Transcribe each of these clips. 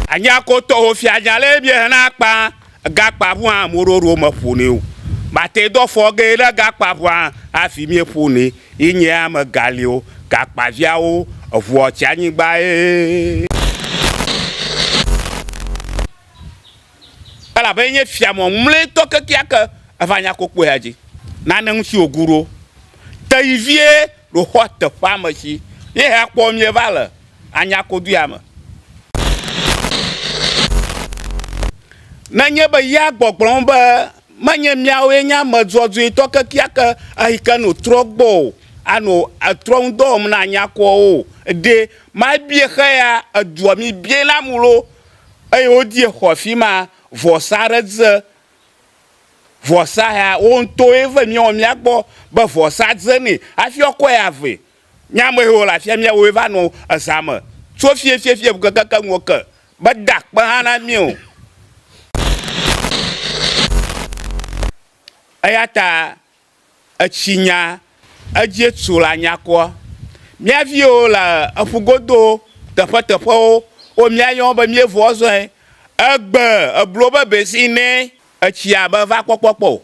Anyakotɔ ho fianya le bi hena kpa gakpa ʋua moɖoɖo me ƒonɛ o. Bate dɔ fɔ ge le gakpa ʋua afi mi ƒonɛ. Yi nye ame gali o gakpa viawo eʋua tsi anyigba ye. elabe enye fia mɔmlɔetɔ kekeake eʋanyakokpoea dzi. Nane ŋuti wògu ɖo teyi vie ɖoxɔ teƒea me si ye hekpɔ mieva le Anyakoduya me. Nenye be ya gbɔgblɔm be menye miawoe nye ame dzɔdzɔetɔ kekeake eyi ke no trɔ gbɔ o ano etrɔ ŋudɔ wɔm na Anyakoawo o ɖe, mabie xe ya edua mibiena mu loo? Eye wodie xɔ afima vɔsa aɖe dze vɔsa ya woŋtɔe ve miɔ miagbɔ be vɔsa dze nɛ afi ɔkɔe ave miamehewo le afia miawoe va nɔ ezame tso fiefiefi ŋke keke ŋuɔ ke be da kpe hã na mio. Eyata Etsi nya edzie tu la nyakɔ. Mía viwo le eƒu godo teƒeteƒewo wo mía yɔm be mía vɔ zɔe. Egbe eblo be besi nɛ etsia be va kpɔkpɔ kpɔ o.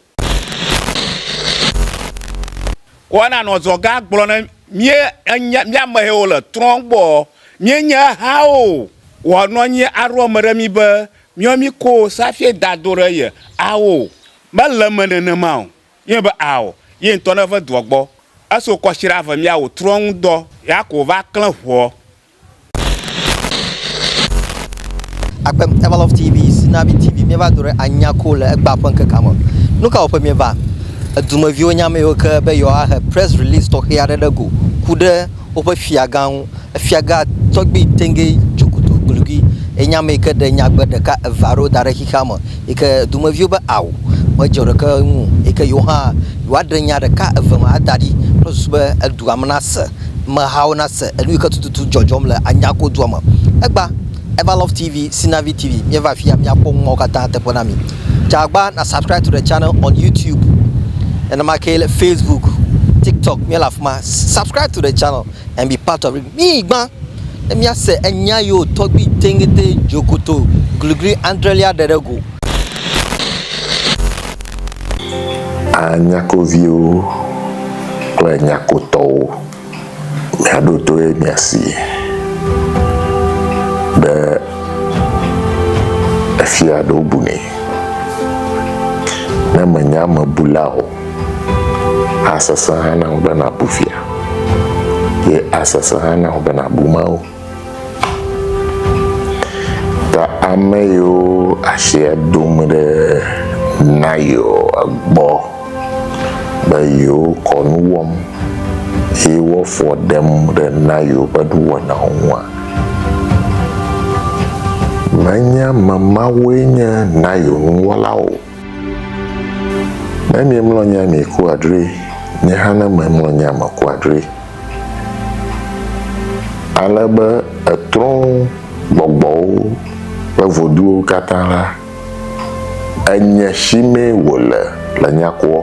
Kɔ na nɔ zɔ gã gblɔ ne mía enya mía mehewo le trɔ gbɔ mía nye ha o. Wɔ nɔ nyi aɖɔ me ɖe mí be mía mí ko safie da do ɖe ye awo Mele eme nenema o, ye be ao, ye ŋutɔ ne ve dɔa gbɔ, eso kɔshira ve mia wo trɔ ŋu dɔ ya ko va klẽ ŋuɔ. Akpem Everlove TV, Sinabi TV, míeva do ɖe anya ko le egbea ƒe ŋkekea me. Nu ka wɔƒe míeva? Edumeviwo nya ame yiwo ke be yewoahe press release tɔxɛ aɖe ɖe go ku ɖe woƒe fiagã ŋu. Efiagã tɔgbi tɛŋgɛ dze klo glugi enye ame yi ke ɖe nyagbe ɖeka, eve aɖewo da ɖe xexea me yi ke dumeviwo be ao medze ɖeke ŋu o yi ke yewo hã yewoaɖe nya ɖeka eve ma ada ɖi kple susu be edua me nase, amehawo nase nu yi ke tututu dzɔdzɔm le anyagodua me. Egba. Ever Love TV, Sinavi TV, míeva afi ya míakpɔ numawo katã teƒe na mi. Tsagba na subscribe to the channel on YouTube. Nenema ke le Facebook, TikTok, míele afi ma. Subscribe to the channel and be part of it. Mí gbã ne míase enya yewo tɔgbi teŋete dzokoto gligli andrelia ɖe ɖe go. A nyakoviwo kple nyakotɔwo. Mia ɖoɖoe mia si be efia aɖewo bu nɛ. Ne mènya ame bula o, asesẽ hã na wò be nàbu fia, ye asesẽ hã na wò be nàbu Mawu. Ta ame yiwo asia dom ɖe Nayɔa gbɔ be yewokɔ nu wɔm eye woafɔ ɖem ɖe Nayɔ ƒe nuwɔnawo ŋua? Menye ame mawoe nye Nayɔ nuwɔlawo o. Ne miemlɔ nya mieku adre, nye hã ne memlɔ nya meku adre. Ale be etrɔ gbɔgbɔwo ƒe voduwo katã la, enye si mee wòle le nya kua.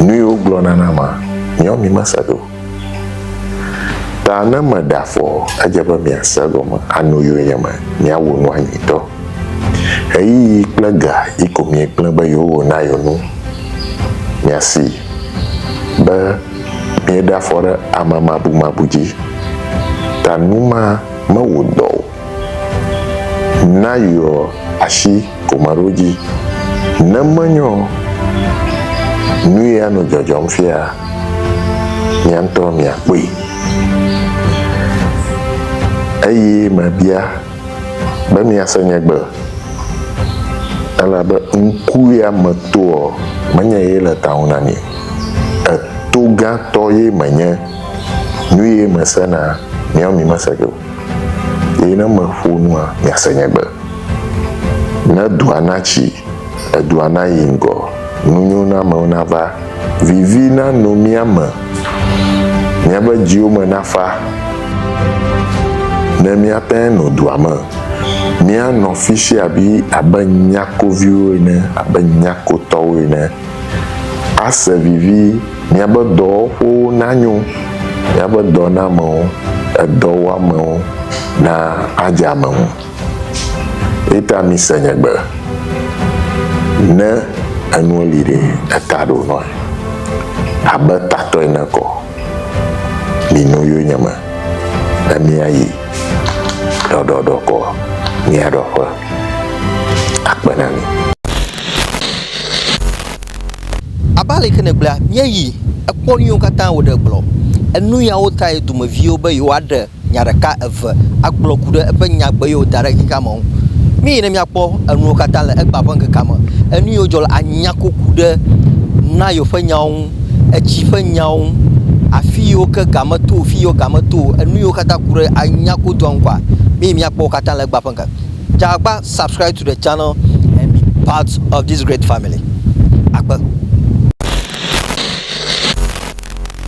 Nu yi wogblɔna na ma, miawo mimese ɖe o. Ta ne meɖe afɔ, edze be miase egɔme, anu yio nye me, miawu nua nyuitɔ. Ɣeyiɣi kple ga yi ko miegblẽ be yewowo na yio nu. Miasi be mieɖe afɔ ɖe amemabumabu dzi, ta nu ma mewu dɔ o. Na yɔ ashi komaɖo ji. Ne menyɔ ɔ, nuye anɔ jɔjɔm fia miantɔ miakpɔe. Eye mabia be miase nye gbe. Elabe ŋku ya meto ɔ, menye ye le taŋu na mi. Etogãtɔ ye menye. Nuye mesena miɔ mimese ge o. Eye ne meƒo nua, miase nye gbe. Ne dua natsi, edua nayi ŋgɔ, nunyonamewo nava, vivi nano mía me, míaƒe dziwo me nafa, ne míate no dua me, míanɔ fisiabi abe nyakoviwo ene, abe nyakotɔwo ene. Ase vivi, míaƒe dɔwɔƒewo nanyo, míaƒe dɔnamewo, edɔwɔamewo na adze ame ŋu. Eyi ta mise nye gbe, ne enuwo li ɖe, eta ɖo nɔe. Abe tatɔ ene kɔ, mino yonyeme, ne míayi ɖɔɖɔɖɔ kɔ, míaɖɔ ƒe akpe na mí. Abe ale ke nègblɔe la, míeyi, ekpɔ nu yiwo katã wòɖe gblɔ. Enu yawo tae dumeviwo be yewoaɖe nya ɖeka, eve agblɔ ku ɖe eƒe nyagbe yiwo wòda ɖe ŋkekea me ŋu. Míeyi ne míakpɔ enuwo katã le egbea ƒe ŋkekea me, enu yiwo dzɔ le anya koku ɖe Nayo ƒe nyawo ŋu, etsi ƒe nyawo ŋu, afi yiwo ke ga meto o, fi yiwo ga meto o, enu yiwo katã ku ɖe anya kodua ŋu kɔa, míeyi míakpɔ wo katã le egbea ƒe ŋkekea me. Subscribe to the channel and be part of this great family. Akpa.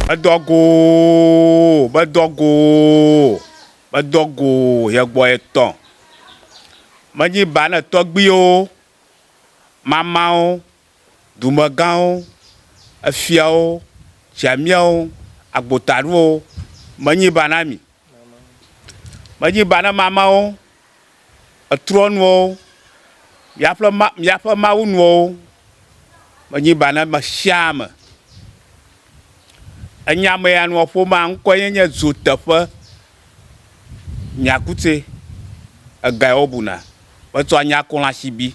Bedɔgo, bedɔgo, bedɔgo yẹ gbɔ etɔ. Menyi ba ne tɔgbiwo, mamawo, dumegãwo, efiawo, tsiamiawo, agbotaɖowo, menyi ba na mi. Menyi ba na mamãwo, etrɔnuwo, miaƒe ma, miaƒe mawunuwo. Menyi ba na me sia ame. Enya me ya nua ƒomea ŋkɔe ye nye dzoteƒe nyakutse. Egae wobuna be tsɔ anya kɔlasibi.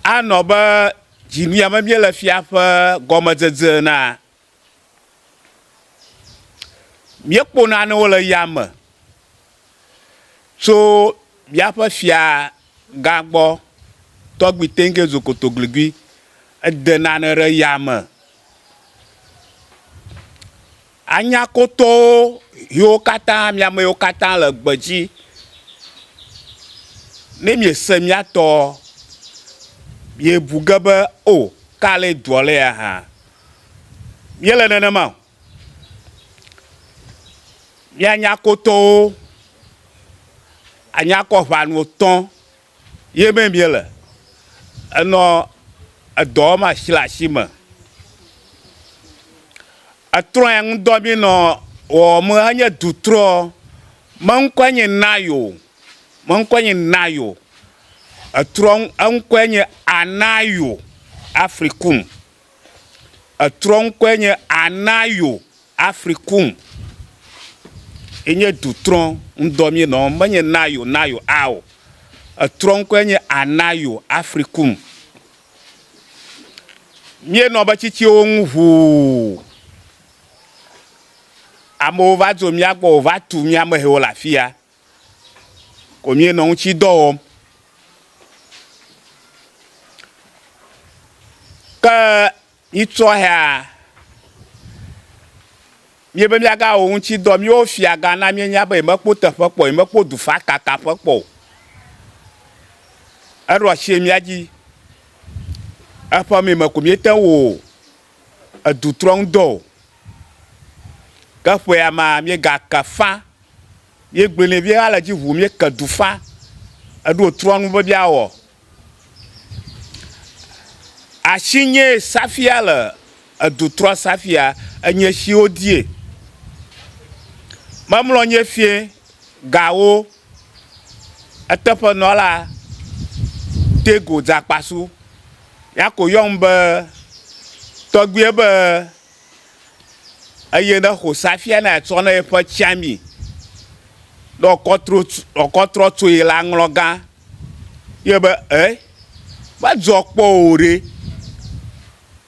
Anɔ be dzinuya me míele fia ƒe gɔmedzedze enea, míekpɔ nanewo le yame. Tso míaƒe fia gã gbɔ, tɔgbi tɛnŋke zu kotogligui, ede nane ɖe ya me. Anya kotowo ʋiwo katã, mi ame yiwo katã le gbe dzi. Ne miese mía tɔɔ, miebu ge be, O, ka ale doa le ya hã? Míele nenema o. Míanya kotowo anya kɔ ʋanu tɔ̃ ye me míele. Enɔ edɔ wɔm asi le asi me. Etrɔe ŋdɔ mí nɔ wɔwɔm enye dutrɔ. Meŋkɔe nye Nayo. Meŋkɔe nye Nayo. Etrɔ eŋkɔe nye Anayo Afrikum. Etrɔ ŋkɔe nye Anayo Africum. Enye dutrɔ ŋdɔ mí nɔ. Menye Nayo, Nayo a o. Etrɔ ŋkɔe nye Anayo Africum. Mí nɔ be tsitsiwo ŋu ʋuu. Amewo va dzo mía gbɔ o va tu mía mehewo le afia. ko míenɔ ŋuti dɔ wɔm. Ke mitsɔhea, míebe míagawɔ ŋuti dɔ, míwo fiagã na míenya be yemekpɔ teƒe kpɔ o, yemekpɔ dufakakaƒe kpɔ o. Eɖo ashi ɖe mía dzi, eƒe meme ko míete ŋu wɔ o. edu trɔ ŋu dɔ o. Ke ƒea ma míegake fã. Míegblɔe nɛ vie ale dzi ŋu míeke du fã. Eɖo wòtrɔ nu be míawɔ asinyee safia le edu trɔ safia enye si wodie. Memlɔ nye fie gawo. Eteƒenɔla Tego dze akpasu ya ko yɔm be tɔgbuiɛ be eye ne xo safia ne atsɔ ne eƒe tsiami ne wòkɔ tro wòkɔ trɔ tsoe la ŋlɔ gã. Yɔe be, E, medzɔ kpɔ wò ɖe?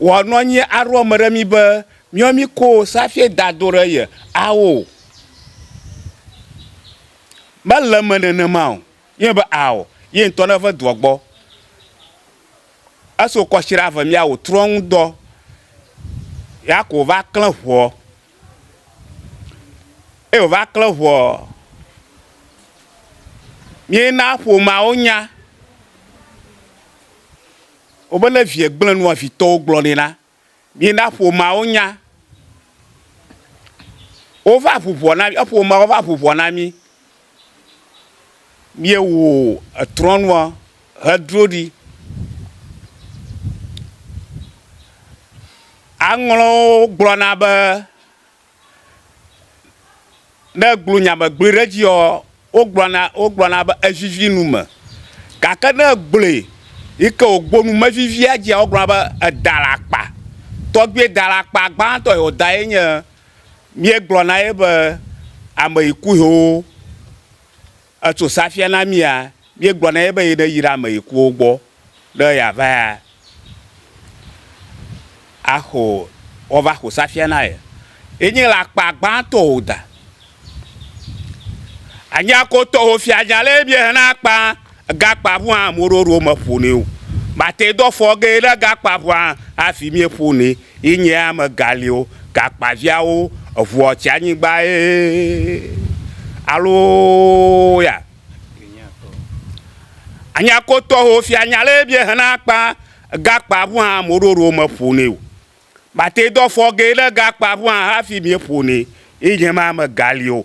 wòa nɔ anyi aɖo ame ɖe mí be, míɔ mí ko safi da do ɖe ye ao. Mele eme nenema o. Míɔ be ao ye ŋutɔ ne ve doɔ gbɔ. Esi wokɔ shi ɖa ve mía wò trɔ ŋu dɔ ya ko wova klẽ ŋuɔ. Eye wova klẽ ŋuɔ, míe na ƒomea wo nya. Wobe ne vie gblẽ nua vitɔwo gblɔ nɛ la, mina ƒomeawo nya. Wova ʋu ʋɔ na mí, eƒomeawo va ʋu ʋɔ na mí. Míewɔ etrɔ̃nua hedro ɖi. Aŋlɔwo gblɔna be ne egblɔ nya me gblɔe ɖe edzi yɔɔ, wogblɔna wogblɔna be evivi nu me. Gake ne egblɔe yi ke wògblɔ nu mevivia edzia, wogblɔna be eda le akpa. Tɔgbuiye da le akpa gbãtɔ yi wòda ye nye, míegblɔna ye be ameyiku hewo. Etso sea fia na mía, míegblɔ na ye be neyi ɖe ame yikuwo gbɔ ne yeava axo, woava xo sea fia na ye. Yenye le akpa gbãtɔ o da. Anyiakotɔwo fia nya le mie hena akpa gakpa ŋua moɖoɖo meƒo nɛ o. Mate dɔ fɔ ge ne gakpa ŋua hafi mieƒo nɛ. Yi nye ame galio gakpa viawo eʋuɔ tsi anyigba ee aloya anyako tɔho fia nya le ebie hena kpa gakpa ʋua moɖoɖo me ƒone o bate dɔ fɔge le gakpa ʋua hafi mie ƒone yi nye ma ame galio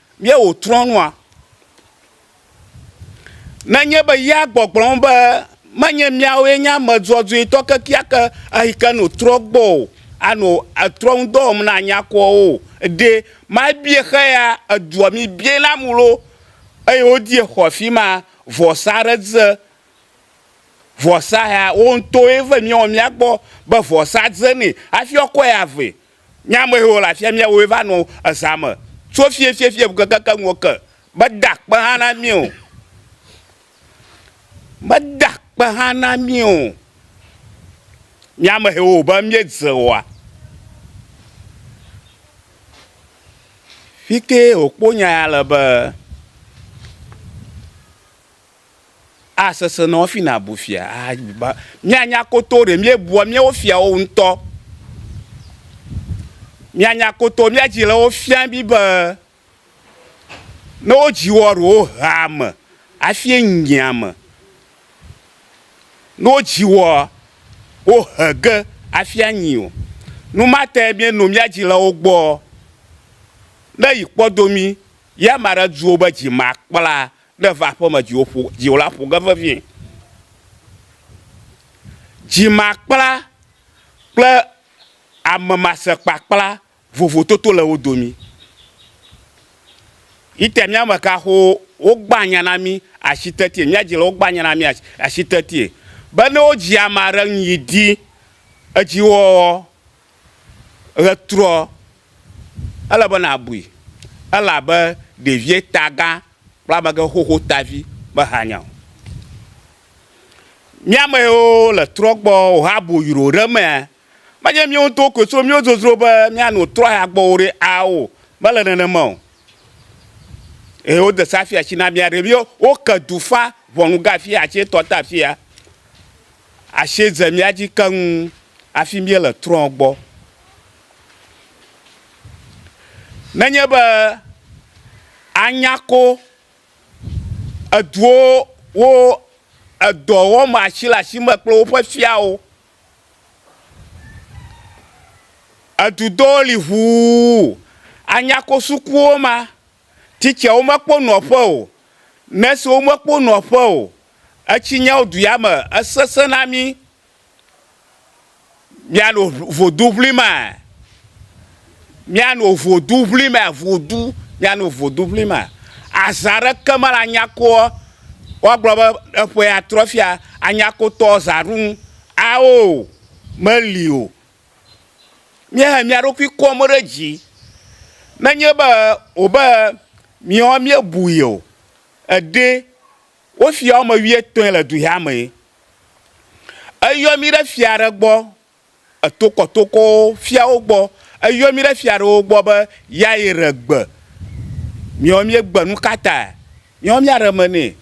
Míewò trɔ nua? Nenye be yea gbɔgblɔm be menye míawoe nye ame dzɔdzɔetɔ kekeake ehike no trɔ gbɔ o, ano etrɔ ŋu dɔ wɔm na nyakuawo o, ɖe mabie xeya edua mi bie na mulo eye wodie xɔ fima vɔsa ɖe dze vɔsa ya wo ŋutɔe ve miɔ mia gbɔ be vɔsa dze nɛ hafi ɔkɔe ave Mía amehewo le afia míawoe va nɔ ezã me tso fiɛfiɛfiɛ ŋu kekeke ŋuɔ ke. Meda kpe hã na mí o. Meda kpe hã na mí o. Mía amehewo wò be míedze oa? Fike wòkpo nya ya le be. Asesẽ na wo hafi nàbu fia. Míanya koto ɖe míebua míawo fiawo ŋutɔ. Míanya koto mía dzilawo fia mí be ne wodzi woa, ɖe wohea ame hafi nyia ame. Ne wodzi woa, wohe ge hafi anyi o. Nu ma tae míenɔ mía dzilawo gbɔ. Ne yi kpɔdo mí, ya ame aɖe du wo be dzi makpla Ne èva aƒe me dziwò ƒo dziwò la ƒo ge vevie. Dzimakpla kple amemasekpakpla vovototo le wo domi. Yite mía me kaxo wogbã nya na mí ashi tetie, mía dzi le wogbã nya na mí ashi tetie be ne wodzi ame aɖe ŋu yi di edziwɔwɔ ɣetrɔ, ele be nàbui elabe ɖevie ta gã Kpla megɛ xoxo tavi me hanya o. Mía me yo le trɔ gbɔ o ha bo yroo ɖe mea me nye mío ŋutɔwo koe so mío zozro be mía no trɔ ya gbɔ o ɖe ao me le nenema o. Eye wo de sa fiatsi na mía ɖe mío wo ke du fa ʋɔnu ga fiatsi tɔ ta fia asie ze mía dzi keŋ afi míe le trɔ gbɔ. Nenye be anya ko eduwo wo edɔ wɔm asi le asi me kple woƒe fiawo. Edu ɖewo li ŋuu anya ko sukuwo ma. Titsewo mekpɔ nɔƒe o, nɔsiwo mekpɔ nɔƒe o. Etsi nyawo du ya me esesẽ na mí. Míanɔ voduŋlimaa? Míanɔ voduŋlimaa? Vodu, míanɔ voduŋlimaa? Azã ɖeke mele anyakoɔ, woagblɔ be eƒe atrɔ fia anyakotɔ zã ɖum ao o, meli o. Míehe mía ɖokui kɔm ɖe dzi. Nenye be wòbe míewa míebui o, eɖe Wo fia woame wuietɔ̃e le duhɛa mee. Eyɔ mí ɖe fia ɖe gbɔ, etokɔtokɔwo, fiawo gbɔ. Eyɔ mí ɖe fia ɖewo gbɔ be yɛayre gbe. Míawo míegbe. Nu ka tae? Míawo míaɖe me nɛ.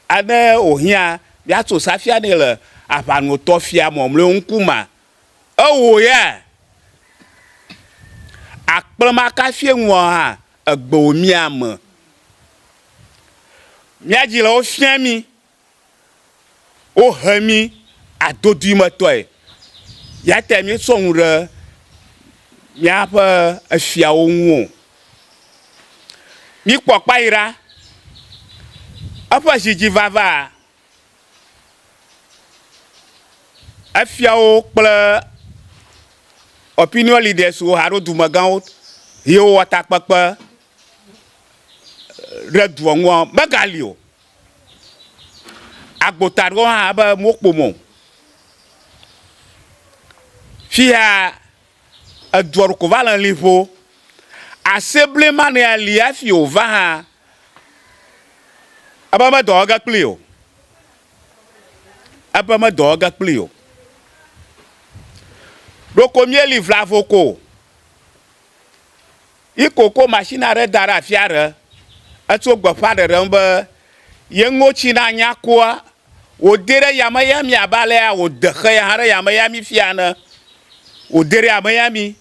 Ane wòhiã míatso safia nɛ le aʋanotɔfia mɔmlɔewo ŋkumea, Ewò ya akplɔ maka fie ŋuɔ hã egbewò mía me. Mía dzi le wo fia mí, wo he mí adodui me tɔe. Ya tae mí sɔ ŋu ɖe mía ƒe efiawo ŋu o. Mí kpɔ kpayi ɖa, eƒe zi dzi vava Efiawo kple opinion leaders wo alo dumegãwo yiwo wɔ takpekpe ɖe dua ŋua megali o. Agbota aɖewo hã be womekpɔ mɔ o. Fiya Eduɔɖuko va le liƒo. Ase ble ma nɛ ali hafi o va hã. Ebe me dɔ ege kpli o. Ebe me dɔ ege kpli o. Ɖoko mi eli vlavo ko. Yi koko machine aɖe da ɖe afi aɖe. Etso gbeƒãɖeɖe ŋu be, Ye ŋɔtsi nanya kua, wòdee ɖe yame ya mi abe alea wòde xe ya hã ɖe yame ya mi fiaa ene. Wòdee ɖe yame ya mi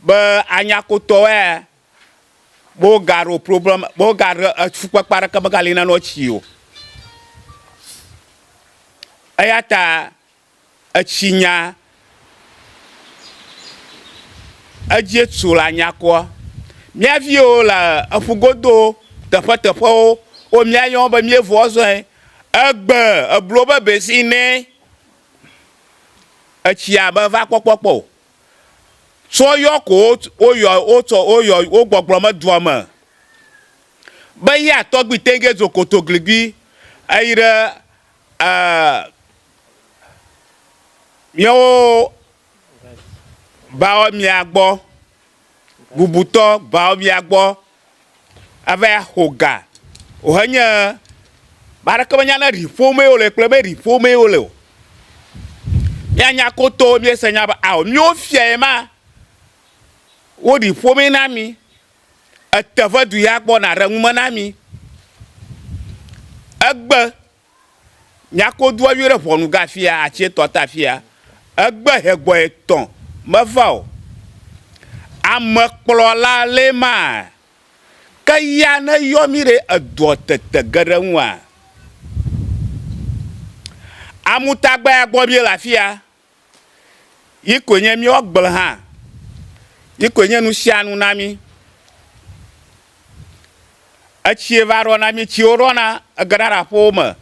be anyakotɔwoea, mewogaɖo problème, mewogaɖe fukpekpe aɖeke megali na nɔtsi o. Eya ta. Etsi nya edzie tu la nyakua. Mía viwo le eƒu godo teƒeteƒewo wo mía yɔm be mía vua zɔe. Egbe eblo be besi nɛ etsia me va kpɔkpɔ kpɔ o. Tsɔ yɔ ko wo yɔ wo tsɔ wo yɔ wo gbɔgblɔ me dua me be ya tɔgbi tɛgɛ dzo koto gligbi eyi ɖe e. míawo baomia gbɔ, bubutɔ baomia gbɔ ava xɔ ga wohe nye ame aɖeke menya ne ɖi ƒomee wole kple be ɖi ƒomee wole o. Míanya koto míese nya be ao míwo fia ye ma wo ɖi ƒomee na mi. Ete vedu ya gbɔna ɖe nume na mi. Egbe. Nyako doa yɔe ɖe ʋɔnu ga afia atsi etɔ ta afia. Egbe he gbɔ etɔ me va o. Ame kplɔ la le ma. Ke ya ne yɔ mi ɖe edɔ tete ge ɖe ŋua? Amu tagbea gbɔ mi le afia. Yi koe nye míawo agble hã. Yi koe nye nusianu na mí. Etsie va ɖɔ na mí. Tsiwo ɖɔna egena ɖe aƒewo me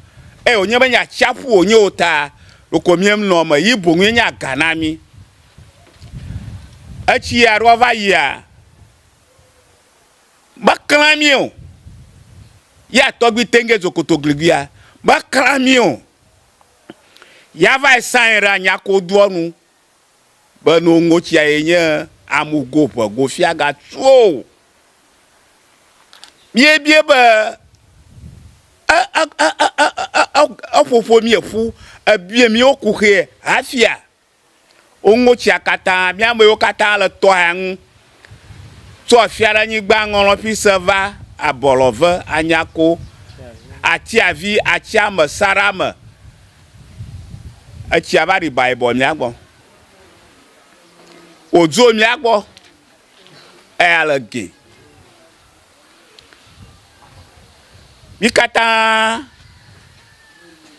eye wònye be nye atsiaƒu wònye o ta, ɖeko míenɔ eme yi boŋ enye aga na mí. Etsi ya ɖoa va yia, meklẽa mí o. Yea tɔgbi teŋgɛ zokoto gliguia, meklẽa mí o. ya vae sãe ra nya ko doɔ nu be no ŋotsia ye nye amu go ƒe go fia ga tuo. Bie bie be e e e e e e e e ƒoƒo mi eƒu ebie mi wo ku xee hafia Woŋo tsia katã. Mía amewo katã le tɔa ŋu. Tso Afiaɖenyigba ŋɔlɔ̃ƒi se va Abɔlɔve, Anyako, Atiavi, Atsiame, Sarame, etsia va ɖi baebɔ mía gbɔ. Wòdzo mía gbɔ eya le gɛ. Mí katã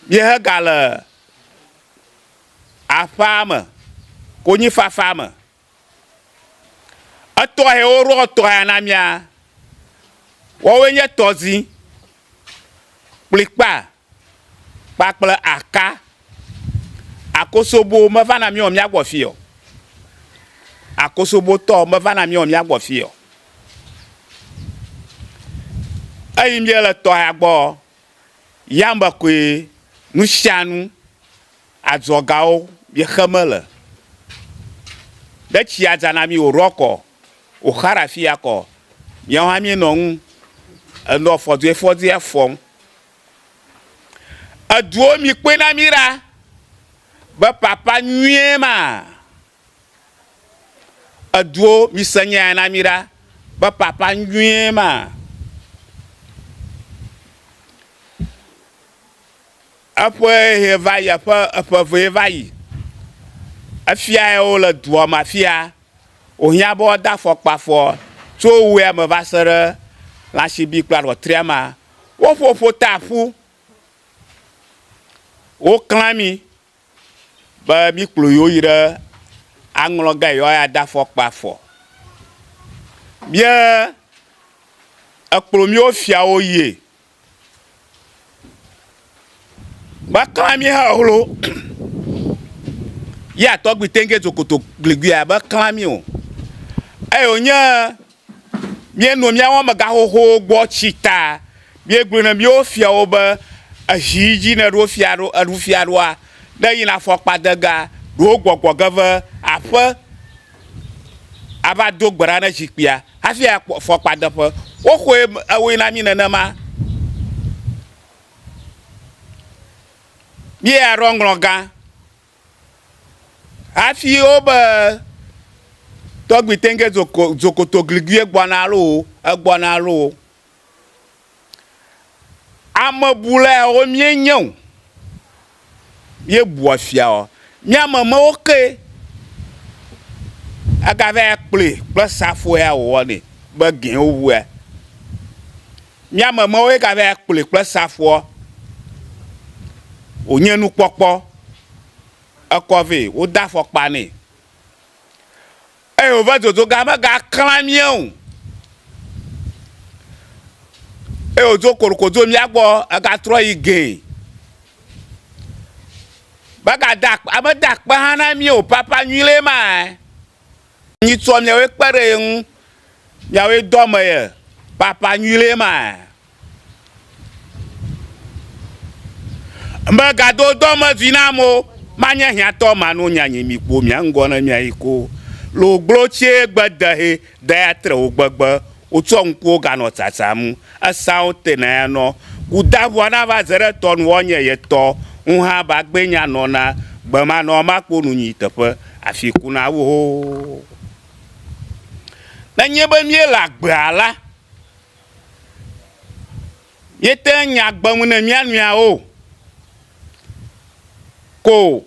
míehegale. Aƒea me, konyifafa me. Etɔ he wo ɖɔ tɔ ya na mia, wɔwoe nye tɔzi, kplikpa kpakple aka. Akosobo me va na mia mia gbɔ fi o. Akosobo tɔ me va na mia mia gbɔ fi o. Eyi mia le tɔ ya gbɔ Yame koe nusianu adzɔgawo miexe mele. Ne tsia dza na mi wòɖɔ kɔ, wòxa ɖe afi ya kɔ, míawo hã míenɔ eŋu enɔ fɔduifɔdui fɔm. Eduwo mi kpɔe na mí ɖa be ƒaƒã nyuie ma? Eduwo, mise nya ya na mí ɖa be ƒaƒã nyuie ma. Eƒe ʋee va yi, eƒe eƒe vee va yi. Efia yawo le dua me afi ya. Wohiã be woade afɔkpa afɔ tso wea me va se ɖe lãsibi kple aɖɔtria ma. Woƒoƒo ta ƒu. Woklã ami. be míkplɔ yewo yi ɖe aŋlɔ ga yewo aya de afɔkpa afɔ. Míe ekplɔ míwo fiawo yie. Mekla mí he hlo yea tɔgbi tɛnke zokoto gliguia mekla mí o. Eye wonye Míenɔ míawo amegã xoxowo gbɔ tsi ta míegblɔ na míawo fiawo be, Èzi yi dzi ne èɖo fia ɖo, èɖu fia ɖoa? Ne èyina afɔkpadega, ɖo gbɔgbɔ ge ve aƒe ava do gbe ɖa ne zikpuia hafi ayi afɔkpadeƒe. Woxɔe ewoe na mí nenema. Míeya ɖɔ ŋlɔgã. Hafi wobe tɔgbi tɛnke zokotogligie gbɔna alo egbɔna alo ame bula yawo mie nye o. Mie bua fia o. Mía me me wo ke ega va yi kplɔe kple safo ya wowɔ nɛ be gɛ wo ŋu ya. Mía me mɔwo ye gava ya kplɔe kple safoa wonye nukpɔkpɔ. Ekɔ vɛ wode afɔkpa nɛ eye wova dodo ga mega kla mía o eye wodo kolokoto mía gbɔ ega trɔ yi gɛ. Mega de akpe mede akpe hã na mí o papa nyui ɖe ma. Nyitsɔ miawoe kpe ɖe ye ŋu, miawoe do ame ye, ƒaƒã nyui ɖee ma. Megado dɔmevi na ame o, manye hiãtɔ mano nya nyi mi kpo mia ŋgɔ ne miayi ko. Logblotsie gbe dehɛ daya tre wo gbegbe Wotsɔ ŋkuwo ganɔ tsatsam. Esãwo tena ya nɔ Kudaŋua na va ze ɖe tɔ nu wɔ nye ye tɔ ŋu hã ba gbé nya nɔ na gbe ma nɔ ma kpo nu nyi teƒe afi ku na wo ho. Ne nye be mí le agbea la. Míete ŋu nyaa gbe ŋu ne mía nɔewo ko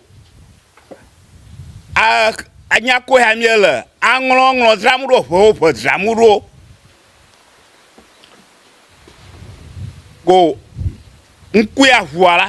a nya koe hã míele aŋlɔŋlɔ dzram ɖo, ʋewo ʋe dzram ɖo ko ŋkue aʋua la,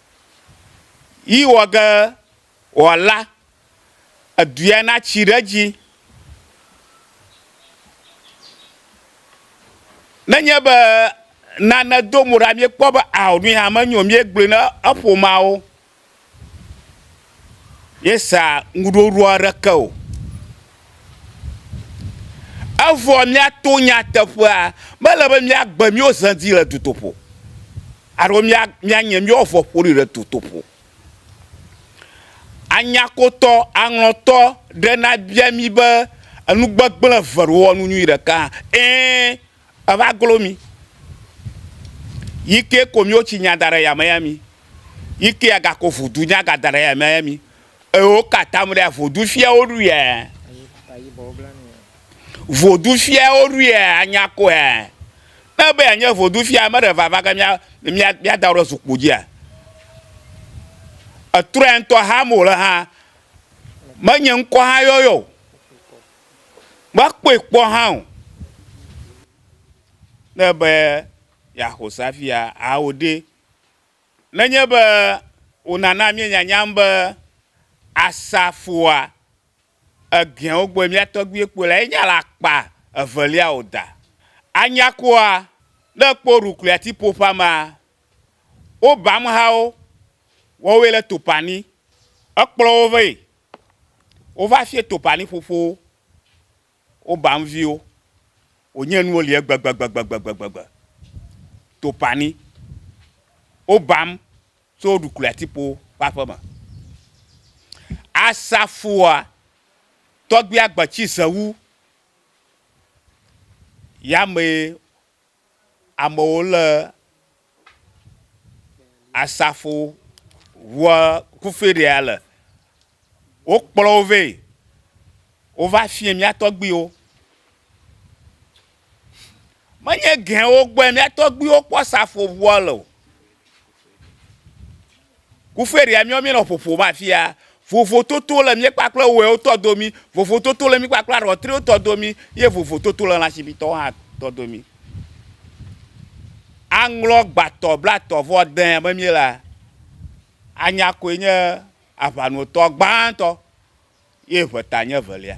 Yi wɔ ge wòala eduyɛ natsi ɖe edzi. Nenye be nane do mo ɖa míekpɔ be ao nuyi hã menyo míegblɔe na eƒomeawo. míesa ŋuɖoɖo aɖeke o. Evɔ míato nyateƒea be ele be míagbe míwo ze dzi le dutoƒo alo míanye míawo vɔ ƒoɖi le dutoƒo. Anyakotɔ, aŋlɔtɔ ɖe nabia mí be enu gbegblẽ eve ɖe wowɔ nu nyui ɖeka? Ɛ̃. Eva glo mi. Yi ke ko miwo tsi nya da ɖe yame ya mi. Yi ke aga ko vodu nya ga da ɖe yame ya mi. Ewo ka tam ɖe vodu fia wo ɖu ya. Vodu fia wo ɖu ya anya ko ya. Ne be ya nye vodu fia ame ɖe vava ke mia mia mia da ɖe zukpu dzi ya. Etrɔ ya ŋutɔ ha mo le ha. Menye ŋkɔ ha yɔyɔ. Mekpɔe kpɔ hã o. Ne be yeaxɔ se hafi awo ɖe, nenye be wònana míenyanyam be Asafoa egeawo gbɔe mía tɔgbuiwo kpɔe lea, enye le akpa evelia o da. Anyakoa, ne èkpɔ Rukliati-ƒoƒeamea, wobe amehawo, woawoe le Topani. Ekplɔ wo vɛ Wova fie Topani ƒoƒowo, woba nu viwo, wònye nuwo li egbegbegbegbegbegbe. Topani, wobam tso Woɖukli Atikpo ƒe aƒe me. Asafua, Tɔgbia Gbetsi Zewu ya mee. amewo le asafo ŋua kufi ɖea le. Wokplɔ wo vɛ. Wova fiɛ mía tɔgbuiwo. Menye gɛwo gbɔe mía tɔgbuiwo kpɔ asafo ŋua le o. Kuferia míɔ míenɔ ƒoƒo ma fia. Vovototo le mí kpakple wɛwo tɔ domi, vovototo le mí kpakple aɖɔtriwo tɔ domi ye vovototo le lãsibitɔwo hã tɔ domi. Aŋlɔ gbatɔ blatɔ vɔ dẽ be míelea, anya koe nye aʋanotɔ gbãtɔ ye ʋeta nye evelia.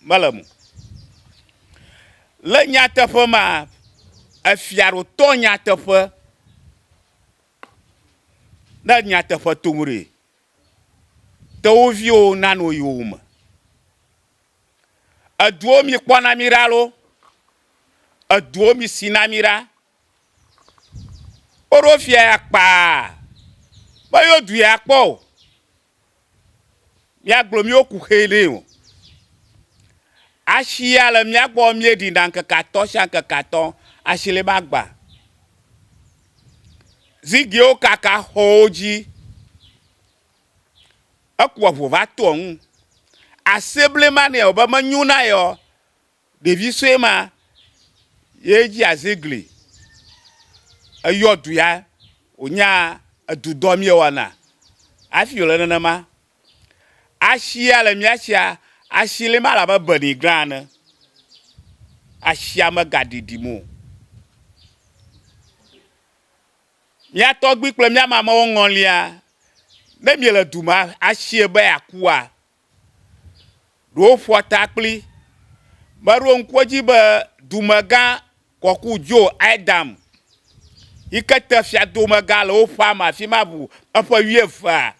mele mo. Le nyateƒe ma, efia ɖo tɔ nyateƒe ne nyateƒe tom ɖe te wo viwo nanu wo yiwo me. Eduwo mi kpɔ na mi ɖa lo, eduwo mi si na mi ɖa. Woɖo fia ya kpaa be yewo du ya kpɔ o. míagblɔ míwo kuxee nɛ o. Ashi ya le mía gbɔ míeɖina ŋkeke atɔ̃ sia ŋkeke atɔ̃ ashi li magba. Zigiwo kaka xɔwo dzi. Eku eŋu va to eŋu. Ase blema nɛ o be menyo na yeɔ, Ɖevi sue ma ye dzi azigli eyɔ du ya wònya edudɔ míewɔna hafi wòle nenema. Ashi ya le mía shia, ashi li ma labe beni gla ene. Ashia megaɖiɖim o. Mía tɔgbui kple mía mamewo ŋɔlia, ne miele du me ashi be yeakua, ɖewo ƒoa ta kpli. Meɖo ŋku edzi be dumegã kɔku Joe Adam yi ke te fiadomegã le wo ƒea me afi ma ŋu eƒe wuievea.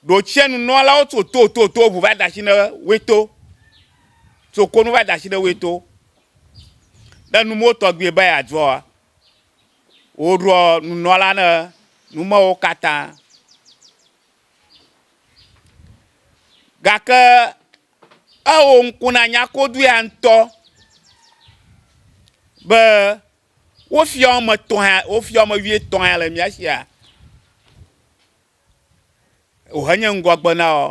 Ɖotsia nunɔlawo tso to to to ŋu va da asi ne woe to. Tso konu va da asi ne woe to. Ne numewo tɔgbi be yeadzɔa, woɖɔ nunɔla ne numewo katã. Gake ewɔ ŋku na nyakodu ya ŋutɔ be wo fiɔ ame etɔ̃ ya wo fiɔ ame wuietɔ̃ ya le mía sia. Wohenye ŋgɔgbe na wo.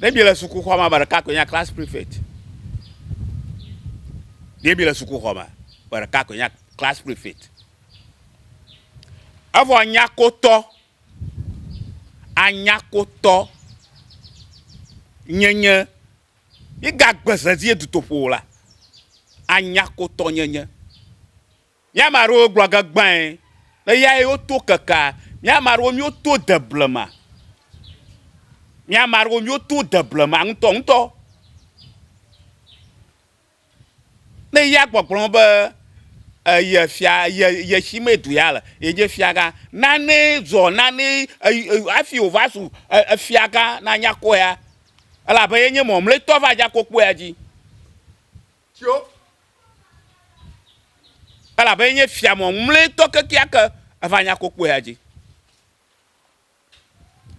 Ne bi le sukuxɔ ma, ame ɖeka koe nye class prefect. Ne bi le sukuxɔ ma, ame ɖeka koe nye class prefect. Evɔ nyakotɔ, anyakotɔ nyenye, migagbe vevie dutoƒo o la, anyakotɔ nyenye. Mía ame aɖewo gblɔ ge gbãe be ya ye woto kekea. Mía ame aɖewo míoto de blema. Mía ame aɖewo míoto de blema ŋutɔŋutɔ. Ne ya gbɔgblɔ me be eye fia ye ye si me du ya le yenye fiagã. Nane zɔ nane hafi wòva zu efiagã na nyakpɔea elabe yenye mamlɛtɔ va dza kokpoea dzi. Tso. Elabe enye fia mɔŋmlɛtɔ kekeake, eva nya ko kpɔe adzi.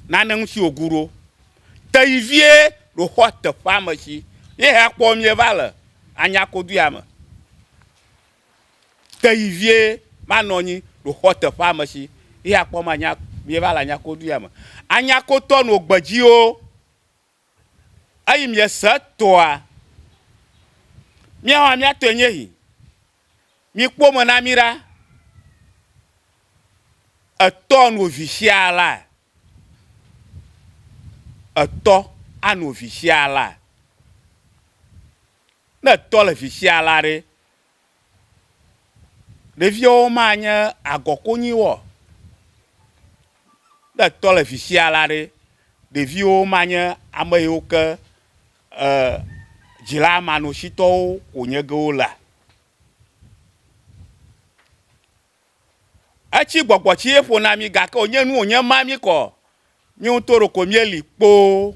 Nane ŋuti wògu ɖo. Te yi vie ɖo xɔ teƒea me tsi ye hea kpɔ mie va le anya ko duya me. Te yi vie manɔ nyi ɖo xɔ teƒea me tsi ye hea kpɔ manya mie va le anya ko duya me. Anya ko tɔ no gbedziwo. Eyi miese tɔa? Míawo hã mía tɔe nye hi. Mikpɔ me na mí ɖa. Etɔ no vi xia la? Etɔ ano vi xia la? Ne etɔ le vi xia la ɖe, Ɖeviwo ma nye agɔ konyi wɔ. Ne tɔ le fifia la ɖe, ɖeviwo ma nye ame yiwo ke e dzila manɔsitɔwo wonye ge wo lea. Etsi gbɔgbɔ tsi ye ƒo na mi gake wonye nu wonye ma mi kɔ. Mi ŋutɔ ɖe ko mi li kpoo.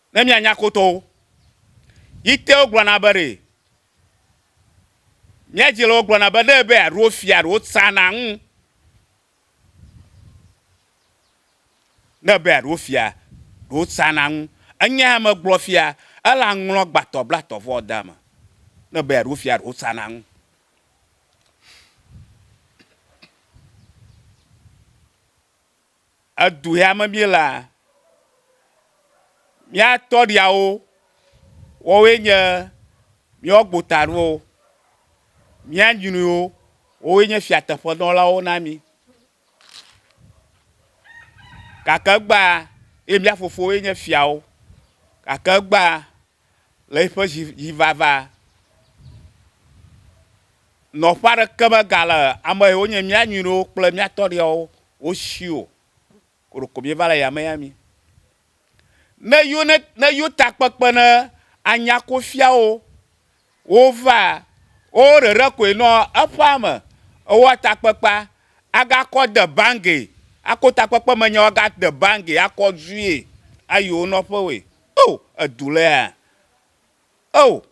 Ne mianya kotowo, yi te wogblɔna be ɖe mia dzi le wo gblɔna be ɖe be aɖo fia aɖo tsa na ŋu. Ne be aɖo fia ɖo tsa na ŋu. Enya ya me gblɔ fia ele aŋlɔ gbatɔ blatɔ vɔ da me. Ne be aɖo fia ɖo tsa na ŋu. edu ya me míelea, mía tɔɖiawo, woawoe nye míawo gbotanuwo, mía nyruiwo, woawoe nye fiateƒenɔlawo na mí. Gake egbea, eye mía fofowoe nye fiawo, gake egbea, le eƒe dzivava nɔƒe aɖeke megale ame yiwo nye mía nyɔnuwo kple mía tɔɖiawo wo si o koɖoko míeva le yame ya mí. Ne yo ne ne yo takpekpe ne anya ko fiawo wova wo ɖeɖe koe nɔ eƒea me ewɔ takpekpea agakɔ de bangi ako takpekpe me nyawo agade bangi akɔ due ayi wo nɔƒewoe. O! Edu le ya? O!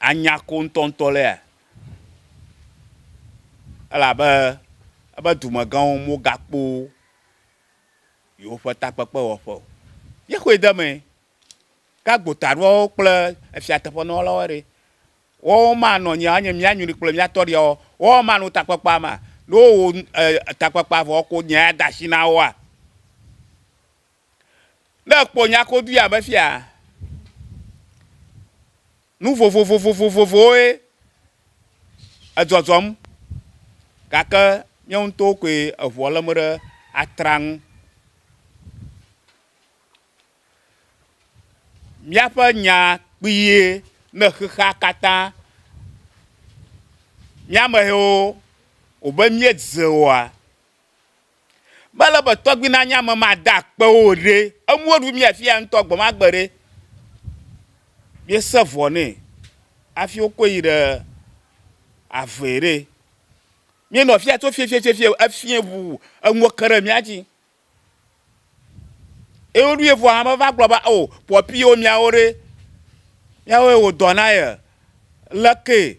Anya ko ŋutɔŋutɔ le ya? Elabe eƒe dumegãwo mogakpɔ yewoƒe takpekpewɔƒe o. Míexɔe de emee. Ke agbotaɖoawo kple efiateƒenɔlawo ɖe? Woawo manɔ anyi anye mía nyri kple mía tɔɖiawo? Woawo manɔ takpekpea mea? Ne wowɔ takpekpea vɔ ko nyae ade asi na woa? Ne èkpɔ nyakoduya me fiaa, nu vovovovovovovowoe edzɔdzɔm gake míawo ŋutɔwo koe eŋua lém ɖe atraa ŋu. Míaƒe nya kpuie ne xexea katã. Míamehewo, wobe míedze oa? Mele be tɔgbi nanye ame made akpe o ɖe. Enuwo ɖu mia fiya ŋutɔ gbemagbe ɖe. Mie se vɔ nɛ afi wo kɔe yi ɖe avee ɖe. Mie nɔ fiya tso fiefiefiefie efie ŋu enuwo ke ɖe mia dzi. Eye wo ɖu ye vɔa me va gblɔ be o pɔpi wo miawo ɖe. Miawoe wo dɔ na ye. Lekee?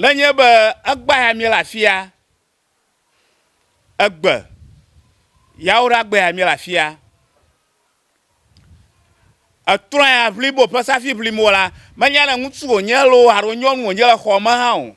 Nenye be egbea ya míele afia, egbe yawo ɖe agbea ya míele afia, etrɔa ya ʋlibo ƒe safi ʋlim wòla, menya ne ŋutsu wònye loo alo nyɔnu wònye le xɔa me hã o.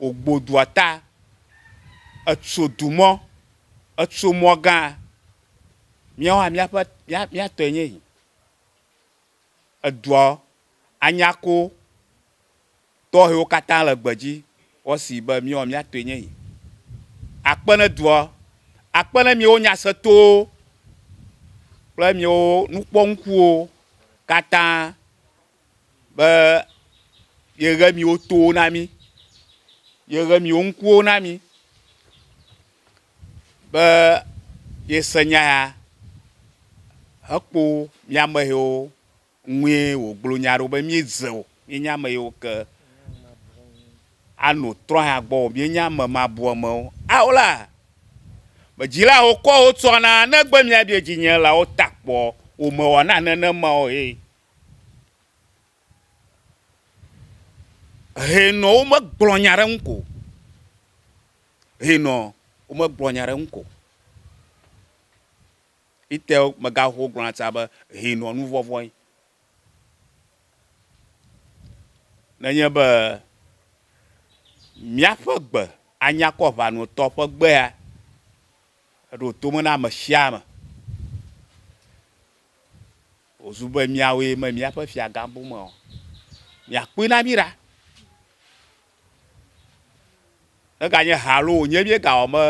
Wògbo dua ta, etso du mɔ, etso mɔ gã. Míawo hã míaƒe, mía, mía tɔe nye yi. Edua anya ko tɔxɛwo katã le gbedzi woasi be míawo mía tɔe nye yi. Akpe ne dua, akpe ne míawo nyasetowo kple míawo nukpɔŋkuwo katã be yeɣe miwo towo na mí, yeɣe miwo ŋkuwo na mí be yese nya ya hekpɔ mía ame yiwo ŋue wògblɔ nya ɖo be míedze o, míenye ame yiwo ke anɔ trɔ̃ ya gbɔ o, míenye ame mabɔmewo. Ao la, be dzilawo kɔ wotsɔna ne gbe mía bia dzinye la, wota kpɔ womewɔna nenema o ye. Hɛnɔ womegblɔ nya ɖe eŋu ko. Hɛnɔ womegblɔ nya ɖe eŋu ko. Ete megaxowo gblɔna tsã be hɛnɔ nu vɔvɔ̃ ye. Ne enye be míaƒe gbe anya kɔ ŋanɔtɔ ƒe gbea, eɖo to me na ame sia ame. Wòzu be míawoe me míaƒe fiagã bum ɔ, miakpɔe na mí ɖa. Neganye ha alo wònye míegawɔ me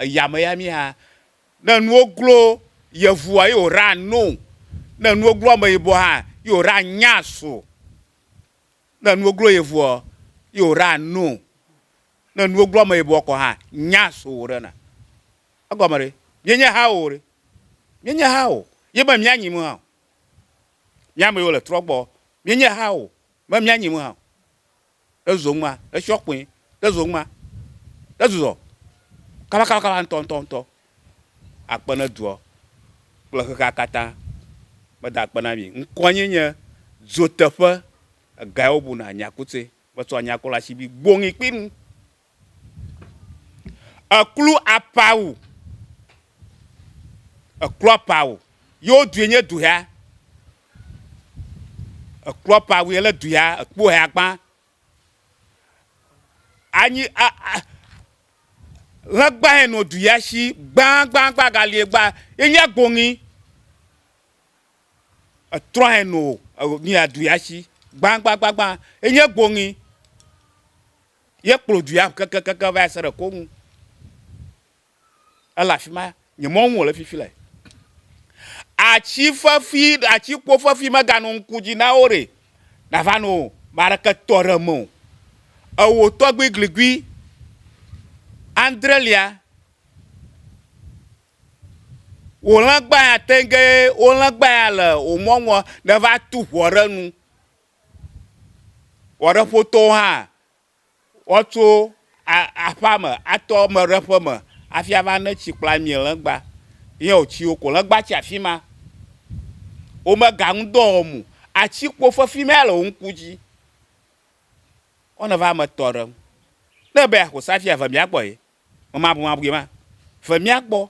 eyame ya mí hã. Ne nuwo glo yevua ye wòɖea no. Ne nuwo glo ameyibɔ hã ye wòɖea nya so. Ne nuwo glo yevu ɔ, ye wòɖea no. Ne nuwo glo ameyibɔ kɔ hã, nya so wòɖena. Egɔme ɖe? Míenye ha o ɖe? Míenye ha o, ye me mía nyim hã o. Mía me yiwo le trɔ gbɔ, míenye ha o, me mía nyim hã o. Ɖe zon ma, ɖe shiɔ kpoin, ɖe zon ma, ɖe zuzɔ kaba kaba kaba ŋutɔ ŋutɔ ŋutɔ akpe ne duɔ kple xexea katã me da akpe na mi. Ŋkɔ nye nye dzoteƒe, egae wo bu na nyakutse, me tsɔ nyakula shibi gboŋi kpi nu. Eklu apa wu. Eklu apa wu. Yo due nye duhea. Eklu apa wu yele duhea. Ekpo hea gbã. Anyi a a lɛgbã hɛ nɔ duhea shi gbãgbãgbã galie gbã ye nye gboŋi. Etrɔ hɛ no nia duhea shi gbãgbãgbã ye nye gboŋi. Ye kplɔ du ya kekekeke va se ɖe Koŋu. Ele afi ma, nye mɔ ŋu wòle fifi le. Atsi fefi, atsi kpo fefi meganɔ ŋku dzi na wo ɖe nava nɔ o. Me aɖeke tɔ ɖe eme o. Ewò tɔgbui gligui andre lia, wò lɛgbã ya tɛnge, wò lɛgbã ya le wò mɔ ŋua, neva tu ŋɔ ɖe nu. Wɔɖeƒotɔwo hã, woatso aƒea me atɔ ame ɖe ƒe me hafi ava ne tsi kple ami legba ye wòtsi wo ko. Legba tsi afi ma. Womega ŋudɔ wɔm o. Atsikpo fefi ma le wo ŋku dzi. Wo ne va ame tɔ ɖe ŋu. Ne ebe yeaƒo safia, ve mía gbɔ ye. Memabumabui ma. Ve mía gbɔ.